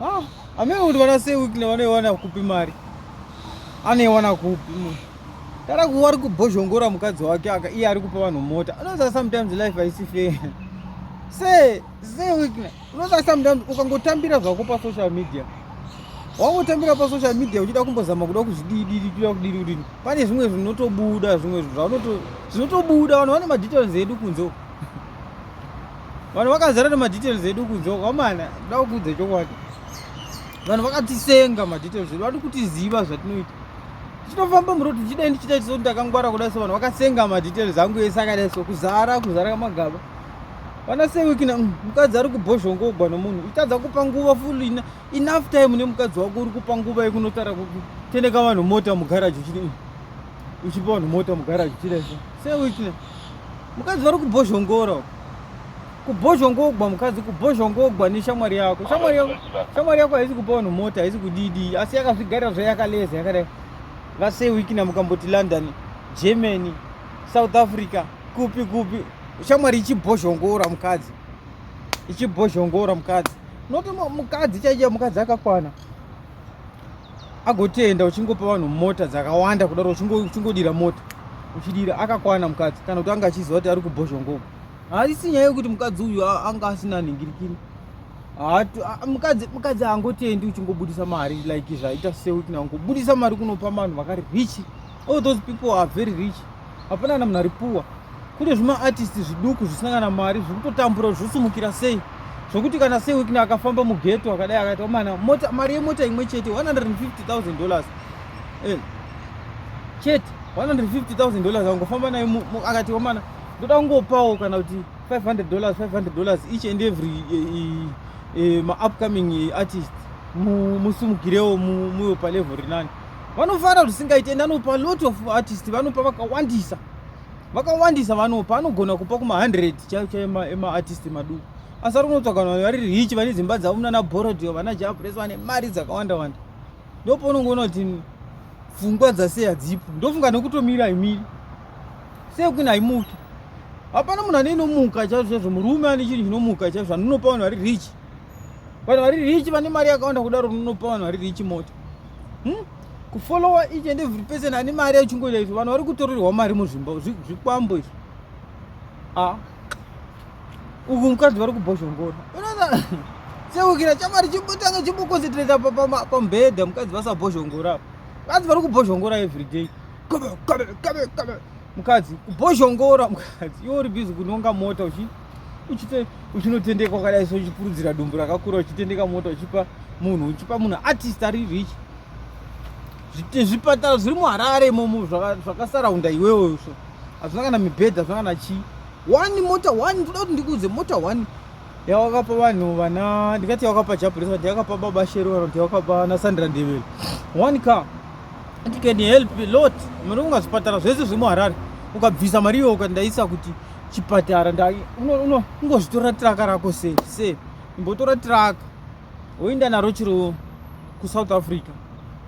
Ah, amene kuti vana sei wikile vanoiwana kupi mari anoiwana kupi munhu tara kuva ari kubhozhongora mukadzi wake aka iye ari kupa vanhu mota anoza sometimes life haisi fair se se wikile unoza sometimes ukangotambira zvako pasocial media wangotambira pasocial media uchida kumbozama kuda kuzvidididi kuda kudidi kudidi pane zvimwe zvinotobuda zvimwe zvinotobuda vanhu vane madetails edu kunze vanhu vakazara nemadetails edu kudzoka mana da kuudza chokwadi vanhu vakatisenga madetails edu vadi kutiziva zvatinoita tinofamba muroti ndichidai ndichiita chiso ndakangwara kudai so vanhu vakasenga madetails angu ese akadai so kuzara kuzara kamagaba vana sewikina mm, mukadzi ari kubhozhongogwa nomunhu uchitadza kupa nguva ful enough time nemukadzi wako uri kupa nguva yekunotara kutendeka vanhu mota mugaraji uchidi mm, uchipa vanhu mota mugaraji uchidai so sewitne mukadzi vari kubhozhongora uko kubhozhongogwa mukadzi kubhozhongogwa neshamwari yako shamwari yako shamwari yako haisi kupa vanhu mota haisi kudidi asi yakazvigarira zvayo yakaleza yakadai vasewikina mukamboti london germany south africa kupi kupi shamwari ichibhozhongora mukadzi ichibhozhongora mukadzi noti mukadzi chaichia mukadzi akakwana agotenda uchingopa vanhu mota dzakawanda kudaro uchingodira mota uchidira akakwana mukadzi kana kuti anga achiziva kuti ari kubhozhongogo haisi nyaya yekuti mukadzi uyu anga asina nhingirikiri mukadzi haangotendi uchingobudisa mari like zvaita sewikna ungobudisa mari kunopa vanhu vakari richi all those people are very rich hapana kana munhu ari poor kune zvimaartist zviduku zvisina kana mari zviri kutotambura kuti zvosimukira sei zvokuti kana sei wikini akafamba mugeto akadai akaita mana mota mari yemota imwe chete 150000 dollars eh, chete 150000 dollars akangofamba nayo akati wamana ndoda kungopawo kana kuti 500 dollars 500 dollars each and every e, e, e, maupcoming artist musimukirewo muyo palevel rinani vanofara zvisingaite ende anopa lot of artist vanopa vakawandisa vakawandisa vanopa anogona kupa kuma 100 chaiyo chaiyo emaartist maduku asi ari kunotsvaga vanhu vari rich vane dzimba dzavo munana borodio vana jabres vane mari dzakawanda wanda ndopo unongoona kuti pfungwa dzasei hadzipo ndofunga nekutomira imiri sei kwini haimuki hapana munhu ane inomuka chaizvo chaizvo murume ane chinhu chinomuka chaizvo anonopa vanhu vari rich vanhu vari rich vane mari yakawanda kudaro unonopa vanhu vari rich mota hmm? kufollowa each and every person ane mari yachingoita izvo vanhu vari kutorerwa mari muzvimba zvikwambo izvo a uku mukadzi vari kubhozhongora seukira chamari chibutanga chimbokonsentrata pamubhedha mukadzi vasabhozhongora apo mukadzi vari kubhozhongora everyday mukadzi kubhozhongora mukadzi iwo uri bhizi kunonga mota uchi uchite uchinotendeka kwakadai so uchipurudzira dumbu rakakura uchitendeka mota uchipa munhu uchipa munhu artist ari rich zvipatara zviri muharare imomo zvakasaraunda iwewe izvo hazvina kana mibhedha hazvina kana chii one mota one ndoda kuti ndikuudze mota one yawakapa vanhu vana ndingati yawakapa jabulesa vati yakapa baba shero kana kuti yawakapa nasandra ndevelo one car it can help a lot mari ungazvipatara zvese zvemuharare ukabvisa mari iyo ukandaisa kuti chipatara ndai ungozvitora traka rako sei sei imbotora traka woenda naro chiro kusouth africa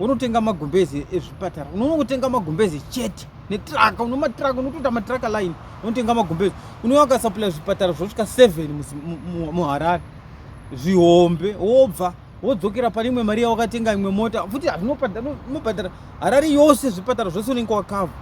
wonotenga magumbeze ezvipatara unoona kutenga magumbeze chete netraka uno matraka unotoita matraka line unotenga magumbeze unouya ukasaplya zvipatara zvosvika seven muharare zvihombe wobva wodzokera pane imwe mari yawakatenga imwe mota futi hazvinobhadhara harari yose zvipatara zvose unenge wakava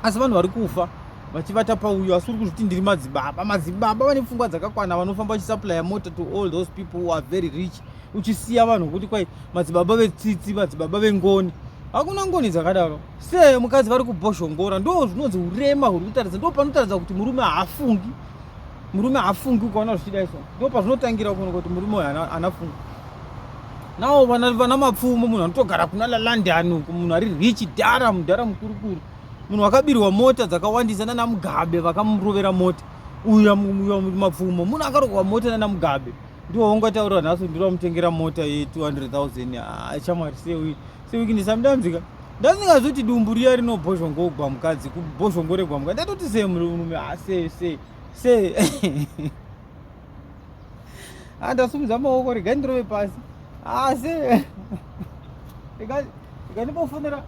asi vanhu vari kufa vachivata pauyo asi uri kuzviti ndiri madzibaba madzibaba vane pfungwa dzakakwana vanofamba vachisupplya mota to all those people who are very rich uchisiya vanhu vokuti kwai madzibaba vetsitsi madzibaba vengoni hakuna ngoni dzakadaro se mukadzi vari kubhoshongora ndo zvinonzi urema huri kutaridza ndo panotaridza kuti murume haafungi murume haafungi ukaona zvichida izvo ndo pazvinotangira kuona kuti murume uyo anafunga nawo vana mapfumo munhu anotogara kuna lalandani uku munhu ari richi dhara mudhara mukurukuru munhu wakabirwa mota dzakawandisa nana mugabe vakamurovera mota uya mapfumo munhu akarohwa mota nana mugabe ndiwo wongataura nhasi ndiri wamutengera mota ye 200 000 ah, chamwari sewi sewiki ndisamudamzika ndandingazoti dumbu riya rinobhozhongogwa mukadzi kubhozhongoregwa mukadzi ndatoti sei murume asese ah, sei andasumudza maoko regai ndirove pasi asi ah, regandibofonera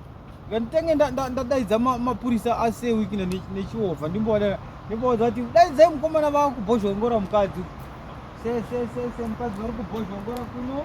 reganditange ndadaidza mapurisa ase wikina nechiova ndimbowadana ndimbowadza kuti daidzai mukomana vakubhozhongora mukadzi se se se se mukadzi vari kubhozhongora kuno